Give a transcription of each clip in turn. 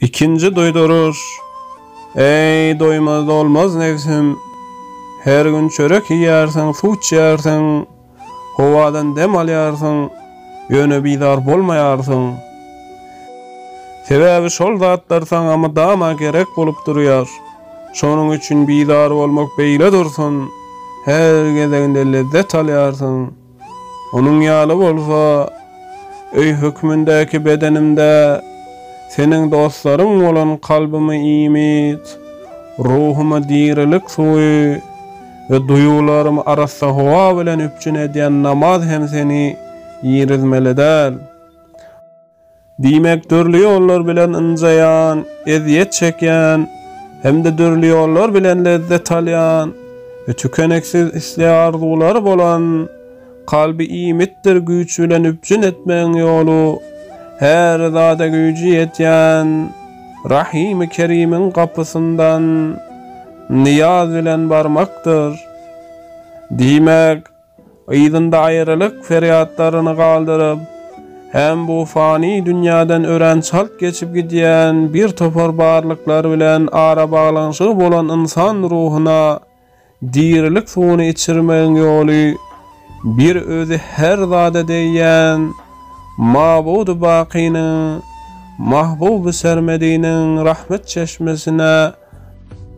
Ikinji duýduryş. Eý, doýmaz dolmaz nebsim! Her gün çörek iýýärsiň, suw içýärsiň, howadan dem alýarsyň, ýöne bizar bolmaýarsyň. Sebäbi şol zatlar saňa mydama gerek bolup durýar. Şonuň üçin bizar bolmak beýle dursun, her gezeginde lezzet alýarsyň. Onuň ýaly bolsa, öý hökmündäki bedenimde Seniň dostlaryň bolan kalbymy iýmit, ruhuma dirilik suwy we duýgularymy arassa howa bilen üpjün edýän namaz hem Seni irizmeli däl. Diýmek, dürli ýollar bilen ynjaýan, ezýet çekýän hem-de dürli ýollar bilen lezzet alýan, tükeniksiz isleg-arzulary bolan, kalby iýmitdir güýç bilen üpjün etmegiň ýoly, her zada güýji ýetýän Rahimi Kerimiň gapysyndan nyýaz bilen barmakdyr. Diýmek. Yzynda aýralyk ferýatlaryny galdyryp, hem bu fani dünýäden örän çalt geçip gidýän bir topar barlyklar bilen arabaglanyşygy bolan ynsan ruhuna dirilik suwuny içirmegiň ýoly bir özi her zada degýän Mabudy-Bakynyň, Mahbuby-Sermediniň rahmet çeşmesine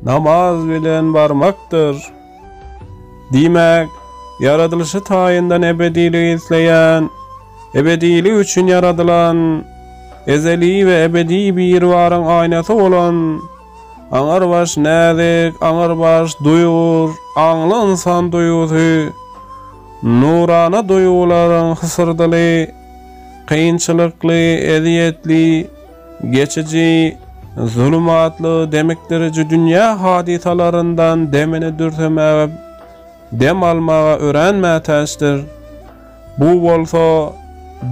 Namaz bilen barmakdyr. Diýmek, ýaradylyşy taýyndan ebediligi isleýän, ebedilik üçin ýaradylan, ezeli we ebedi Biribaryň aýnasy bolan, aňrybaş näzik, aňrybaş duýgur, aňly ynsan duýgusy, nurana duýgularyň hysyrdyly, kynçylykly, ezýetli, Geçiji zulumtly demikdiriji dünýä hadysalaryndan demini dürsemäge, dem almaga örän mätäçdir. Bu bolsa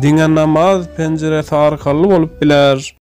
diňe namaz penjiresi arkaly bolup biler.